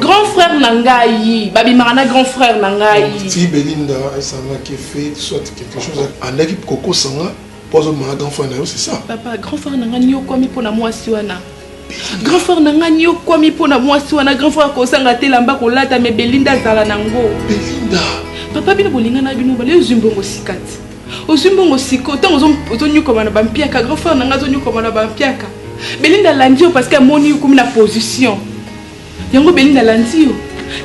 grand frère na ngai babimaka na grand frère na ngai ti belinda esangaki fete soit quelque chose andaki kokosa nga mpo azobima na grand frère na yo c'est ça papa grand frère na ngai niokwami mpo na mwasi wana grand frère na ngai niokwami mpo na mwasi wana grand frère akosanga te elamba kolata me belinda azala na yango belinda papa bino bolingana bino bale ozwi mbongo sikati ozwi mbongo siko ntango ozonyokwama na bampiaka grand frère na ngai azonyokwama na bampiaka belinda alandi yo parce que amoni okomi na position yango belinda alandi yo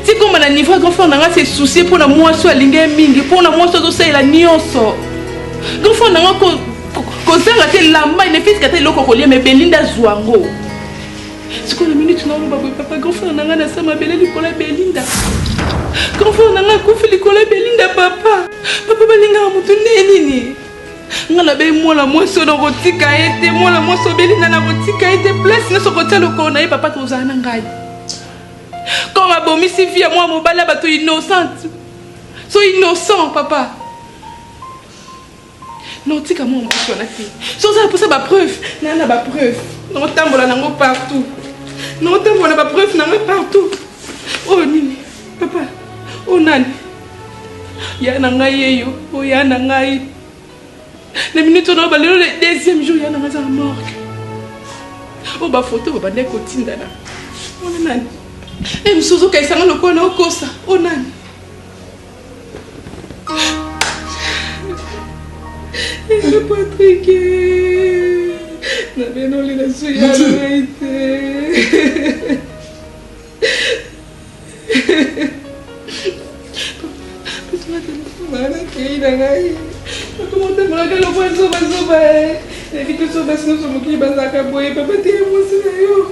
tikoma na niveau ya grand frère na ngai se soucie mpo na mwasi oyo alingi ye mingi mpo na mwasi azosalela nyonso grand frère na ngai kozanga te lamba nefitika te eloko kolia me belinda azwa yango sikoyo na minute na oloba boye papa grand frère na ngai na sa mabele likolo ya belinda grand frère na ngai akufi likolo ya belinda papa papa balingaka motu nde nini nga nabeyi mwana mwasi oyo nakotika ye te mwana mwasi obeli nga nakotika ye te place nyonso kotia lokolo na ye papa tozala na ngai comme abomisi vie ya mwana mobali ya bato innocente so innocent papa Non, tika mwana mwasi wana te. So ozala mposa ba preuve, na na ba preuve. Naotambola nango partout. Naotambola na ba preuve na nga partout. Oyo nini? Papa, oyo nani? Ya na ngai yeyo, oyo ya na ngai. Na minute oyo naoba lelo le deuxième jour ya na ngai aza na morgue. Oyo ba photo babandaki kotindana. Oyo nani? Eh, mosusu ozokayisa nga lokola naokosa. Oyo nani? Patrick, na beno lila suya ngai te. na ngai okomotambolaka lokola zobazoba ebi toso basi nyonso mokili bazalaka boye papa te ya mwasi na yo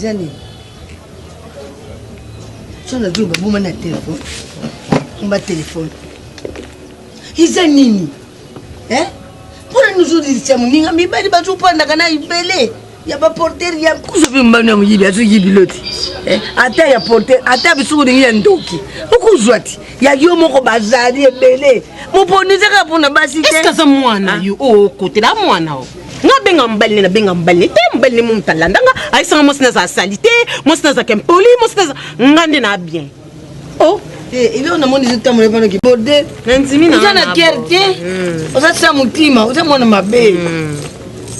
eza nini so nazwi baboma na telefone omba telefone eza nini eh? mpona nini ozodilisa moninga mibali bazopandaka na ebele ya baportere ya kuzobi mbano ya moyibi azoyibi loti eh? ata ya portere ata biso olingi ya ndoki okozwa ti ya yo moko bazali ebele moponi ezaka mpona basi te eske aza mwana ah. yo okotela oh, mwana o oh. nga benga mobali ne nabenga mobali ne te mobali ne momuta alandanga ayesanga mwasi nazala sali te mwasi nazalaka impoli mwasi naza nga nde na bien Oh, eh, il est on a mon disant tamole bana ki bode. Nandimi na. Oza na cœur te. Hmm. Oza sa mutima, oza mwana mabe. Hmm.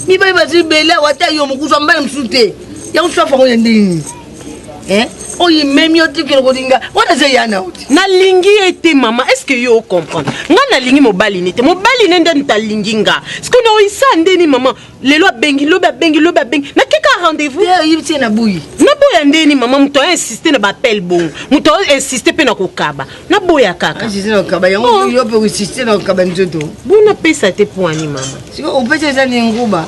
Mibali bazali bele wata yo mokuza mbala mosusu te. Ya osusu afango ya ndenge. Eh? oyo imemi yo te kende kolinga wana eza ya na oti nalingi ye te mama est ce que yo ocomprendre nga nalingi mobali ne te mobali ne nde ntalingi nga sikoyo naoyisa ndeni mama lelo abengi lobi abengi lobi abengi nakeka rendez-vous oyebi tie naboyi naboya ndeni mama moto aya insiste na baappel bongo moto ao insiste mpe na kokaba naboya kaka bo napesa te mpo ani mama opesa eza ni nguba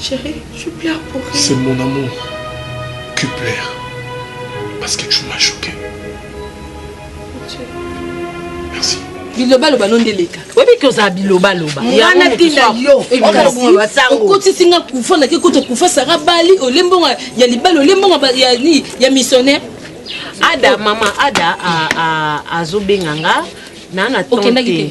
Chérie, tu pleures pour rien. C'est mon amour qui pleure. Parce que tu m'as choqué. Merci. bilobaloba no nde eleka oyebi ke ozala bilobaloba wana ntina yo okotisi nga kufa nake kota kufa sara bali olembonga ya libali olembonga ya nini ya missionnaire ada mama ada azobenga nga naa na temps te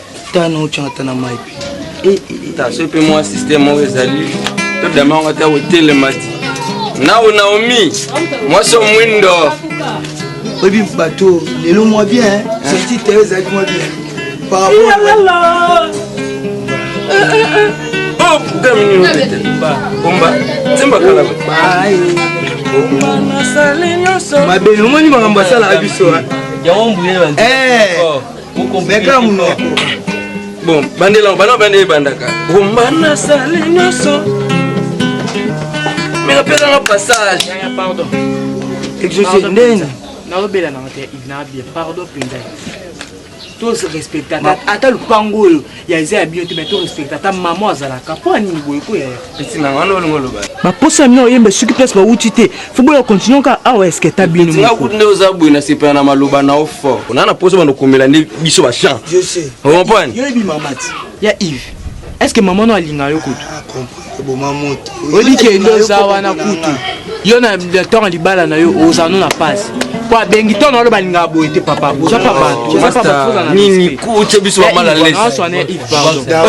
tana otyanga ata na mai mpe eh, eh, eh. so mpe mwa systeme oyo ezali to dama yango ata kotelema ti nao naomi mwasi omwindo oyebi bato lelo mwa bien sorti te ezalaki mwa bien mabe omoni makambo asalaka biso yango mbuye meka munoko bon bandela bana bande ebandaka bomba nasali nyonso meka pesanga passage exauce ndeni naobela na te inabie pardon mpenza to respectaka ata lupango oyo ya eza ya bino te mais to respecte ata mama azalaka mpo ya nini boye ko yaya baposa na bino oyemba soki place bawuti te fo boya continue kaka awa eske ata bino kutu nde oza boye na sepela na maloba na yo fort ona na posa bando komela nde biso bachamp ocompane ya ive est ce que mama no alinga yo kutu eboma moto oyebi kende oza wana kutu yo na ntango libala na yo oza no na pasi po abengi to nalo balingaka boye te papa oza pa batonini kuce biso bamala lesetika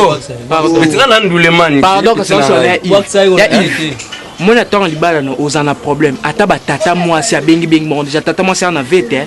na ndulemani pardon kasi oso na ive moi na ntango libala na oza na problème ata batata mwasi abengibengi bango deja tata mwasi aza na vete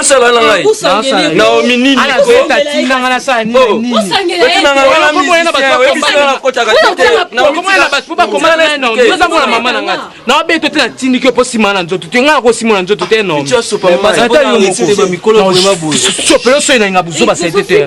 osala na ngai naomi nini naobeto te natindiki yo mpo nsima na nzoto te ngai nakosima na nzoto te nomisosope yo soyi na inga buzoba sete te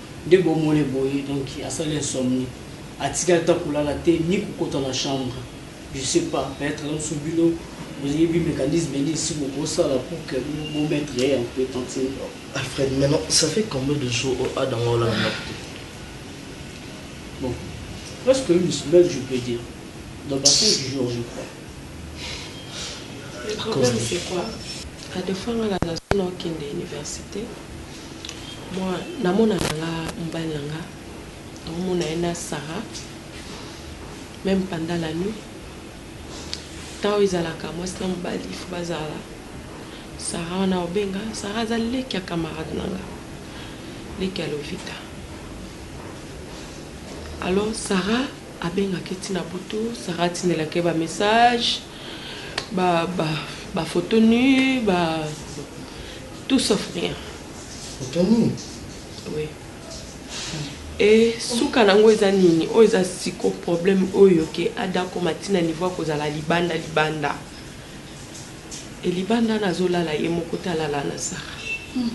Nde bomole boye donc asali insomnie atikali ata kolala te ni kokota na chambre je sais pas peut etre mususu bino boyebi mecanisme nini si bokosala pour que bo mettre ye un peu tantine dor. Alfred maintenant ça fait combien de jours oyo Adam olala na ndaku te? Bon presque une semaine je peux dire dans ba 5 jours je crois. Le problème c'est quoi? Adephanga na zone okende universite. Moi na mona na nga mobali na nga na mona ye na Sarah meme pendant la nuit temps ezalaka mwasi na mobali il faut bazala Sarah wana obenga Sarah aza leki ya camarade na nga leki ya Lovita alors Sarah abengaka ye ti na butu Sarah atindelaka ye ba message ba ba ba photo nu ba tout sauf rien photo nu oui et suka nango eza nini oyo eza siko problème oyo ke ada koma tina niveau ya kozala libanda libanda e libanda na azolala ye moko te alala na sara hmm.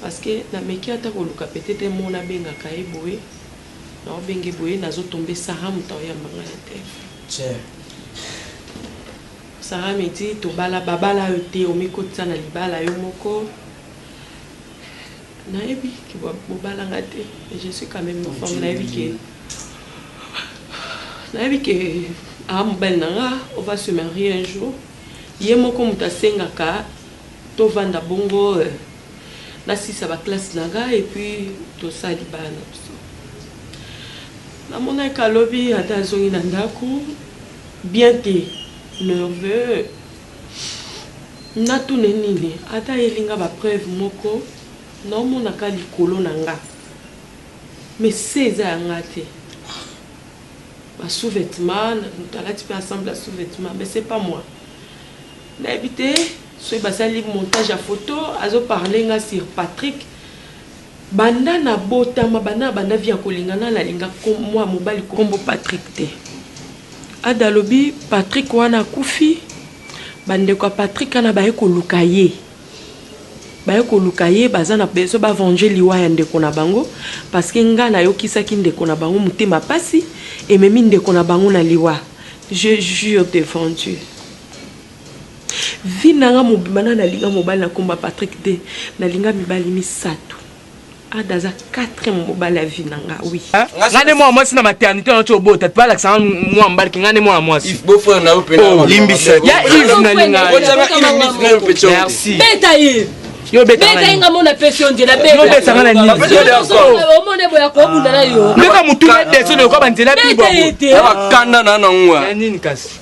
parce que nameki ata koluka peut-être mona abengaka ye boye Nao benge boye nazo tombe Sarah mutu ao yamba nga na telephone. Sarah me dit tobala ba bala yo te omi kotisa na libala yo moko. Na yebi ke bo bala nga te mais je suis quand même une femme na yebi ke na yebi ke a mobali na nga on va se marier un jour ye moko mutu asengaka to vanda bongo. Euh, Na silisa ba classe na nga et puis to sala libala na biso. Na monaki ka lobi ata a zongi na ndaku bien te nerveux. Na tuna ye nini? Ata ayeli nga ba preuves moko na omona ka likolo na nga mais se eza ya nga te. Ba sous-vetements, mutu alati pe ensemble ya sous-vetements mais ce pas moi. Nayebi te soki basali montage ya photo azo parler nga sur Patrick banda na botama banda banda vie ya kolingana na linga mwa mobali kombo Patrick te ada lobi Patrick wana akufi bandeko ya Patrick ana baye koluka ye baye koluka ye baza na besoin ba venger liwa ya ndeko na bango parce que nga nayokisaki ndeko na bango motema pasi ememi ndeko na bango na liwa je jure devant Dieu Vie nanga mobimba nanga nalinga mobali na kombo ya Patrick te nalinga mibali misatu Ada aza quatrième mobali ya vie nanga oui nga nde mwana mwasi na maternité wana ti obota ti balakisa nga mwana mobali ki nga nde mwana mwasi limbisa ya ive nalinga merci beta ive yo betanga nga mona pesi onzela yo betanga na niniomone boya kobunda na yo ndeka motuna deso lokola banzela bibo bakanda na nango nini kasi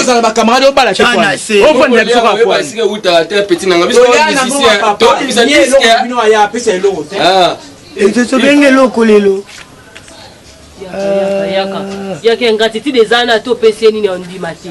ozala bacamarade obalaofandela biso kakwaobenge eloko lelo yaka ingratitude eza na to opesi ye nini ondima te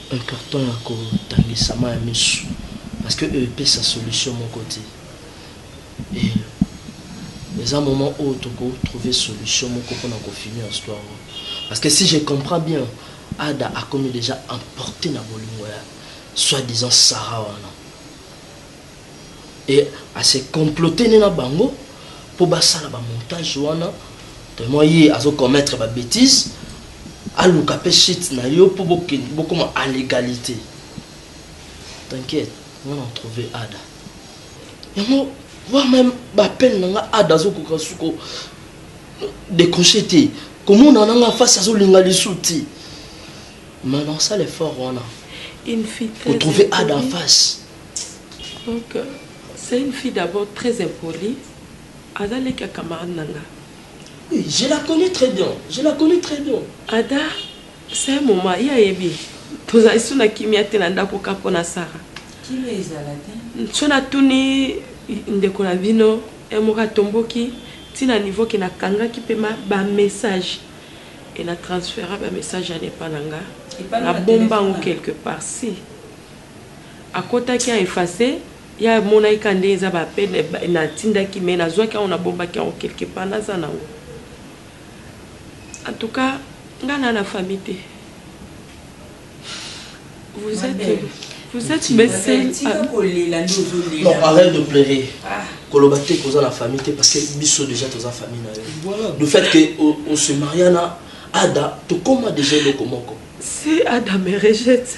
Un carton ya ko tangisama ya misu parce que e pesa solution moko te et eza moment oyo toko trouver solution moko pona ko finir histoire oyo parce que si je comprends bien Ada akomi dejà emporte na bolingo ya soit disant Sarah wana. et a se comploter nde na bango po basala ba montage wana tellement ye azo commettre ba betises aluka pe shit na yo po bokende bokoma à l'egalite t'inquiète nga na trouver ada yango voir même ba peine na nga ada azokoka suko décrocher te komona na nga face azolinga lisu te mais na osala effort wana kotrouver ada en face Donc c'est une fille d'abord très impolie, aza leki ya camarade na nga. Oui, je la connais très bien, je la connais très bien. Ada, c'est un moment, ye ayebi, tozali su na kimia te na ndako ka mpo na Sara. Kimia ezala te. So natuni ndeko na bino, ye moko atomboki ti na niveau ke nakangaki mpe ba message e na transfera ba message wana epa na nga, nabomba yango quelque part, si. Akotaki a efface ye amonaki kaka ndenge eza ba appel na tindaki mais na zwaki yango na bombaki yango quelque part na za nango en tout cas nga na na famille te vous etes vous etes mes seuls non arrête de pleurer koloba te koza na famille te parce que biso déjà toza famille na yo le fait que on se maria na ada tokoma déjà eloko moko si ada me rejette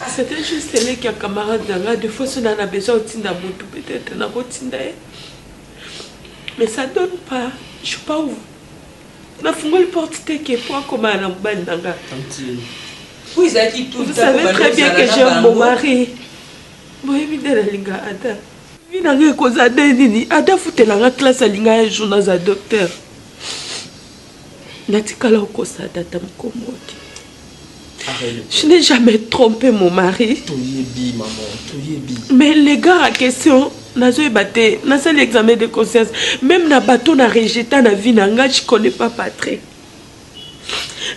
Ah, c'était juste leki ya camarade na nga de fois so na na besoin otinda mutu peut-être nakotinda ye mais ça donne pas je pas où nafungoli porte te ke po akomana na mobali na nga vous savez très bien que j'aime mon mari boyebi nde nalinga ada vi na nga ekozala nde nini ada futela nga classe alinga ya jour naza docteur natikala okosa data mokomoki Je n'ai jamais trompé mon mari. Toyebi, maman, toyebi. Mais les gars à question, nazoyeba te, nasali examen de conscience. Même na bateau na rejeta na vie na nga, je connais pas Patrick.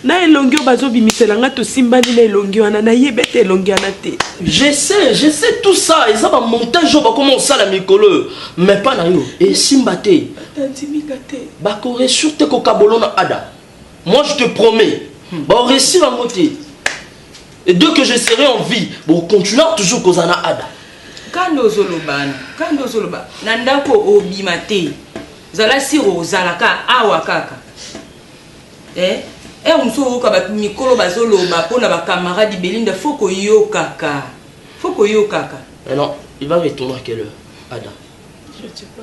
na elongi oyo bazobimisela nga tosimbani na elongi wana nayebi ete elongi wana te je sais je sais tout ça eza bamontage oyo bakoma kosala mikolo mais mpa na yo esimba te bakoresur te kokabolona ada Moi je te promets, hmm. ba réussir en beauté. Et dès que je serai en vie, bon continuer toujours kozala na ada. Kando zoloba, kando zoloba, na ndako obima te. Zala siro ozalaka awa kaka. Eh, eh muso oyoka ba mikolo bazoloba pona ba camarades Belinda faut koyokaka. Faut koyokaka. Alors, il va retourner à quelle heure Ada Je sais pas.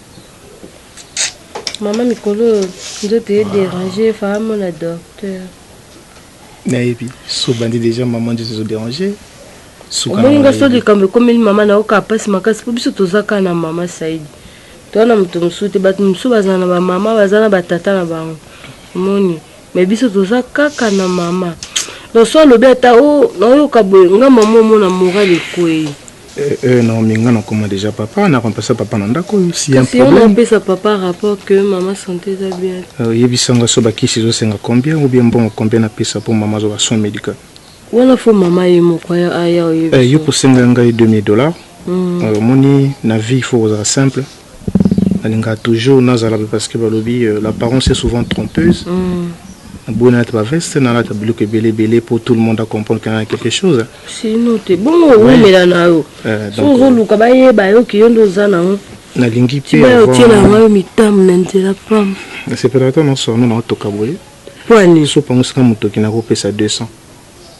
Maman mikolo oyo nzoto e déranger fa amona docteur. Nayebi so bandi déjà maman nzoto ezo déranger. Omoni nga so likambo ekomeli mama na oka pasi makasi po biso toza kaka na mama Saidi. Toza na moto mosusu te bato mosusu bazala na ba mama baza na ba tata na bango. Omoni mais biso toza kaka na mama. Donc so alobi ata o oh, nayoka boye nga mama omona moral ekwei. Eh eh Naomi nga na koma deja papa na kompesa papa na ndako oyo si un problème. Kasi on papa rapport que maman santé eza bien. Euh, yebisa nga so ba kisi zo senga combien ou bien mbongo combien na pesa pour maman zo ba soins médical. Wana faut maman ye moko ya aya oyebi. Eh yo posenga ngai 2000 dollars. Mm. Euh, moni na vie il faut kozala simple. Nalingaka toujours nazala pe parce que balobi l'apparence est souvent trompeuse. Naboyi nalata ba veste, nalata biloko ebele ebele po tout le monde a comprendre que naza quelque chose. Sinon te, bongo owumela na yo. Soki ozoluka bayeba yo que yo nde oza na yango. Nalingi pe avant. Tika otielaka ngai mitambo na nzela pamba. Nasepelaka tango nionso na yo toka boye. Pona nini? Soki opangusaka motoki nakopesa 200.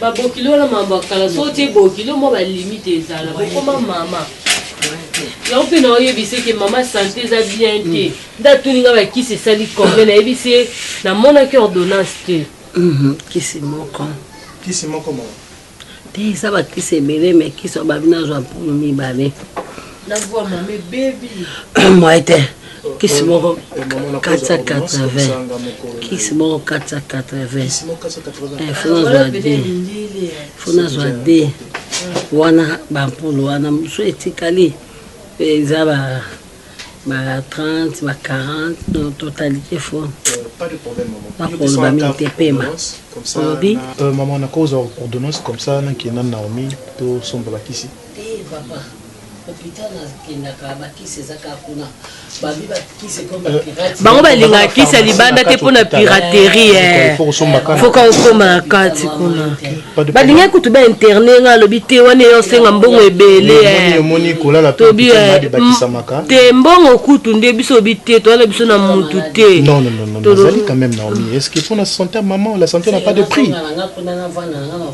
ba bokilo na mambo ya kala so otie bokilo mwa ba limite ezala bokoma mama yango mpe na oyebisa eke mama sante eza bien te mm. nde atuni nga bakisi esali combien nayebisi ye namonaki ordonnance te mhm, kisi moko kisi moko moko te eza bakisi ebele me kisi obabi nazwa mpulu mibale na voix mama ebebi moye te kisi moko 480 kisi moko 480 fona zwa de fona zwa de wana bampulu wana mosusu etikali eza ba ba 30 ba 40 no totalité fo bakoloba euh, mingi te pema olobi euh, mama nakozwa ordonnance comme ça nakenda naomi tosomba bakisi Tee papa hopital na kendaka ba kisi eza kaka kuna babi ba kisi ekomi euh, pirate bango balingaka kisi ya libanda te mpo na piraterie eh. foka okoma na kati kuna balingaki kutu ba interne nga alobi te wana eyo osenga mbongo ebele eh. tobi eh. te mbongo kutu nde biso obi te towana biso na mutu te tozali quand même naomi est ce que mpo na santé ya maman la santé na pas de prix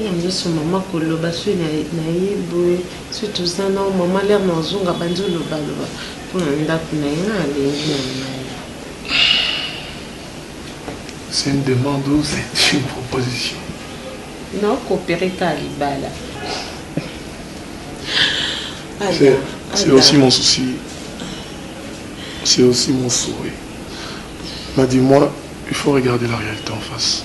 Oyo azo sumba ma ko loba soyi na na ye boye soki toza nao maman lere na ozonga abandi oloba loba pona ndaku na ye nga na lingi na ngai. C'est une demande ou c'est une proposition? Nao coopere kaka libala. C'est aussi mon souci. C'est aussi mon souhait. Mais dis-moi, il faut regarder la réalité en face.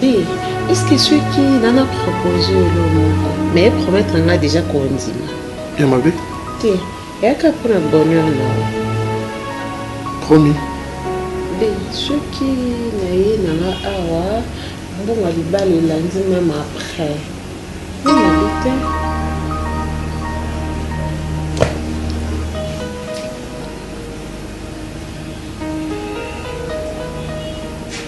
Be, est-ce que soki nana propose elo moko mais promettre nga déjà kondima ya mabe te eyaka mpo na bonheur na promis be soki naye nanga awa mbongo ya libala elandi meme après nanabi te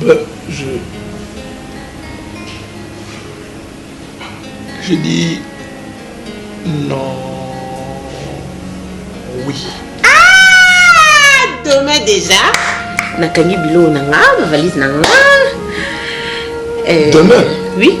Ba je je dis non oui. Ah demain déjà. nakangi biloko na nga bavalise na nga. Eh, demain. Oui.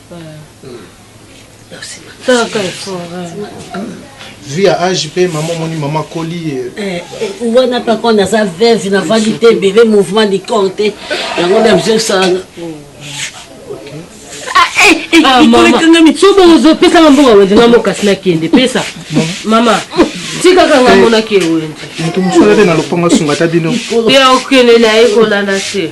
vu ya age mpe mama omoni mama akoli eh, eh, wana mpe ako naza veve navandi te ebele mouvement du corps te yango nde bizosala sobo ozopesaka mbongo wenze na mokasi nakende pesa mama tikaka nga monaki ewenze moto mosala te na lopango asunga ta bino te okende na ye kolanda te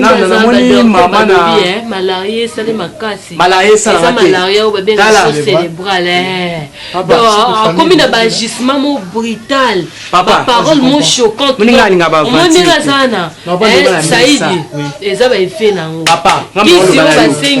nano namoni mama na eh, malaria esali makasi malaria esalaka te malaria oyo babengaka so cérébrale eh. ah, akomi na baagissement mo brutal baparole mo choquanteomondenge aza na eh, saidi eza baefe na yango kisi oyo basengi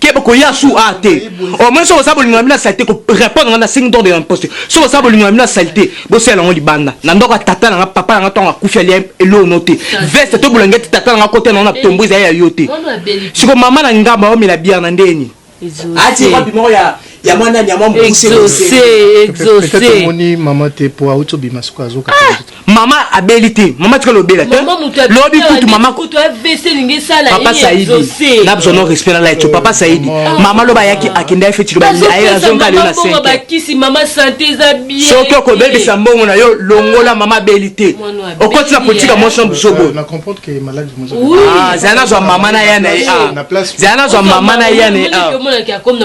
keba koya su a te au moins soki oza bolingo na bino ya salite ko répondre nga na singi d'ordre ya imposte soki oza bolingo na bino ya salite bosala yango libanda na ndako ya tata na nga papa na nga ntango akufi alia eloo no te veste to bulangeti tata na nga kota nango na tombo ezali ya yo te siko mama na ngamba omela bière na ndeni ati wapi moko ya ya mwana nani ya mwa mokuse exaucé exaucé omoni mama te po auti obima siko azoka Mama abeli te. Mama tika lobela te. Lobi kutu mama kutu AVC lingi sala Papa Saidi. Na besoin non respect na light. Papa Saidi. Mama loba yaki akenda feti loba aye azonga leo na 5. Mama bakisi mama santé za bien. Soki okobebisa mbongo na yo longola mama abeli te. Okoti na politique ya motion buzobo. Na comprendre que malade Ah, zala nazwa mama na ya na ye ah. zala nazwa mama na ya na ye ah.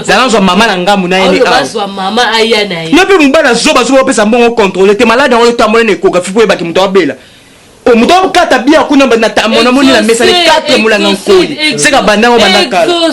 zala nazwa mama na ngambu na ye ne yo mpe mobali azoba zoba opesa mbongo controle te maladi yango etambola na ekografi mpo oyebaki moto abela oh, moto akata bia kuna namoni na mesa le 4 molanga nkoli seka bandango banda kala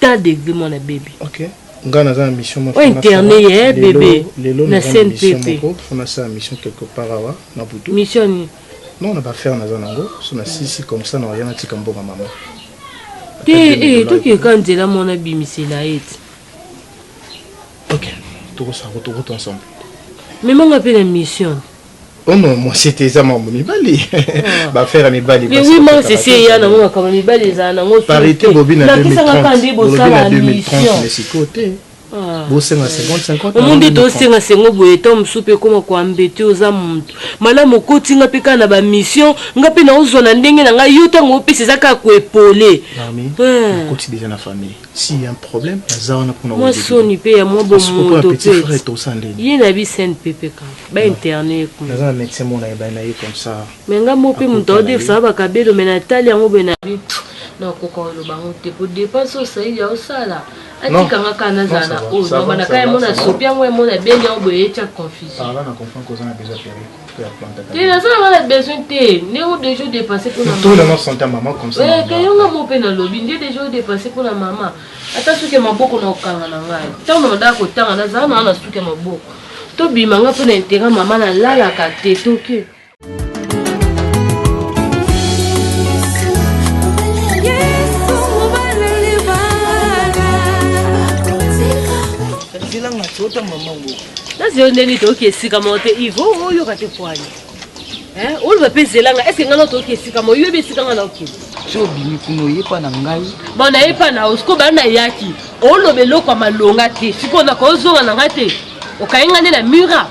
ta degre mwana bebe okay. nga naza na mission moko interne ye eh, bebe na scène pepe fona sa mission quelque part awa na butu mission ni non na ba faire naza nango so na sisi comme ça na rien atika mboka mama te eh toki ka nzela mona bimisela ete OK toko sa ko toko ensemble mais manga pe na mission Oh non, moi c'était ça maman mibali. Ba faire mibali. Mais oui, moi c'est c'est ya na ngo kama mibali eza na ngo. Parité bobina 2030. Bobina 2030 mais c'est côté. Ah. bosenga 50 omonde tosenga sengo boye ntango mosusu mpe ekoma koambete oza motu malamu okoti nga mpe kaka na bamission nga mpe naozwa na ndenge na ngai yo ntango opesa eza kaka koepole si ya problème naza wana mpona mwa soni mpe ya mwa bomoto mpe ye na bi sainte pepe kaka ba interne ye kuna naza na médecin mona ebani na ye comme ça mais nga mo mpe moto aodefisaka bakabelo me natali yango boye na nakoka oloba yango te mpo depense oyo saidi aosala atika nga kaka nazala na oyo nobanda kaka yamona sopi yango yamona beni yango boye etya confusion te nazalaka na besoin te ndenge deja odepense mponakeyonga mo mpe nalobi nde deja odepense mpo na mama ata soki ya maboko na kokanga na ngai ntango nadaa kotanga nazala naa na suki ya maboko tobima ngai mpo na intera mama nalalaka te toke nazi yo ndenge toyoki esika moko te ivo oyoka te pwani oloba mpe zelanga eske ngai nao toyoki esika mo oyebi esika ngai naokende so obimi kuna oyepa na ngai bon nayepa na osiko bana nayaki oloba eloko ya malonga te sikoyo nakozonga na ngai te okayi ngai nde na mura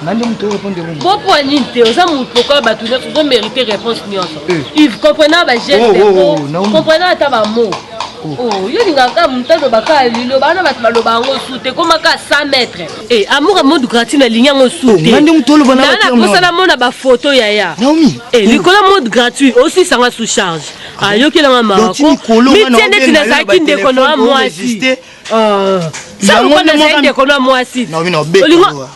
nande moto orépondre yango bopwa nini te oza moto lokola bato nyonso ozo mérite réponse nyonso ive comprenant bageste comprenant ata bamo Oh, yo olingaka kaka moto aloba kaka liloba wana bato baloba yango su te ekoma kaka 100 mètre eh, amour ya monde gratuit nalingi yango su oh, tenaposa namona bafoto yaya eh, likolo ya monde gratuit osisanga sous charge ah ayokelanga makomitie ndeti nazalaki ndeko na wa mwasi ah, yango nde mokano ya mwasi olingo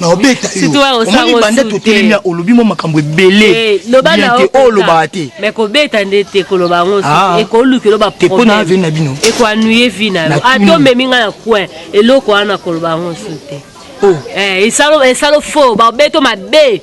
naobeta yoomoni banda totelemi ya olobi mwa makambo ebele eh, te olobaka oh, te me kobeta nde te koloba yango ah. ekoluki oloba mpo na vi na bino ekoanuye vi na yo ata omemi ngai na coin eloko wana koloba yango su te oh. eh, esalo fo babeto mabe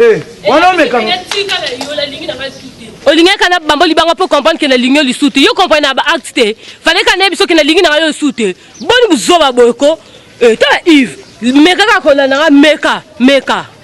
Eh, wana omekanga olingi aka na bamboli bango mpo comprendre ke nalingi yo lisusu te yo comprendre na baacte te fale ka nayebi soki nalingi nanga yo lisusu te boni buzoba boye ko eh, tala ive meka kaka kolanda nga meka meka